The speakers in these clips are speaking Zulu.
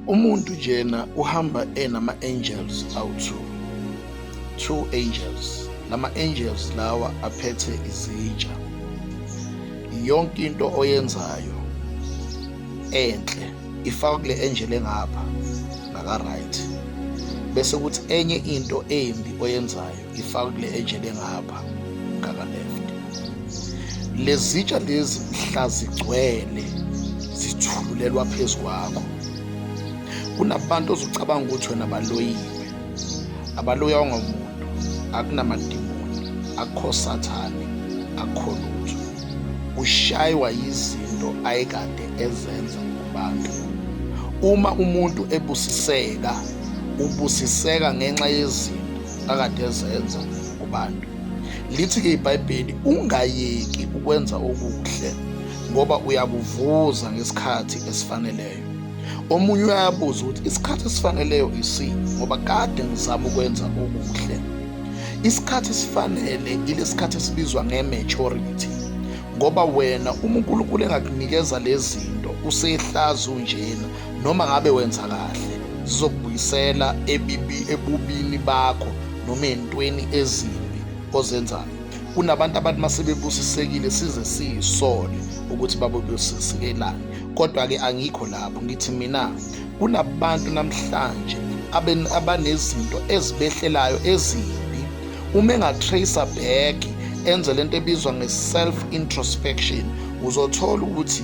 Umuntu njena uhamba enama angels awu2. Two angels. Lama angels lawa aphethe izitsha. Yonke into oyenzayo enhle ifaka kule angel engapha naka right. Bese kuthi enye into embi oyenzayo ngifaka kule ejele ngapha ngaka left lezitsha lezi mhla zigcwele zithululelwa phezu kwakho kunabantu ozucabanga ukuthi wena baloyiwe abaloya ongamuntu akunamadimoni akho sathane akho lutho ushaywa yizinto ayekade ezenza kubantu uma umuntu ebusiseka ubusiseka ngenxa yezinto akade ezenza kubantu. Lithi-ke iBhayibheli ungayeki ukwenza okuhle ngoba uyakuvuza ngesikhathi esifaneleyo. Omunye uyabuza ukuthi isikhathi esifaneleyo isini ngoba kade ngizama ukwenza okuhle. Isikhathi esifanele ilesikhathi esibizwa nge-maturity ngoba wena uma uNkulunkulu engakunikeza lezi zinto usehlazi unjena Noma ngabe wenza kahle, zizokubuyisela ebibi ebubini bakho noma entweni ezimbi ozenzayo. Kunabantu abantu masebebusisekile size siyisole ukuthi babebusisikelani. Kodwa-ke angikho lapho ngithi mina kunabantu namhlanje abanezinto ezibehlelayo ezimbi uma engatracer back enze lento ebizwa nge-self introspection uzothola ukuthi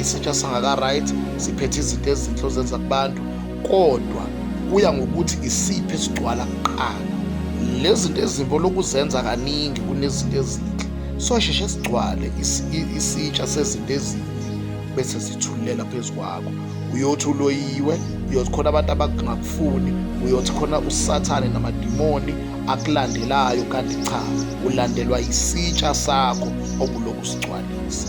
isitsha sangaka-right siphethe izinto ezinhle ozenza kubantu kodwa kuya ngokuthi isiphi esigcwala kuqala lezi zinto ezimbi olokuzenza kaningi kunezinto ezinhle sosheshe sigcwale isitsha sezinto ezinhle bese zithulela phezu kwakho uyothi uloyiwe uyothi khona abantu abangakufuni uyothi khona usathane namadimoni akulandelayo kanti cha ulandelwa isitsha sakho obulokhu sigcwalisa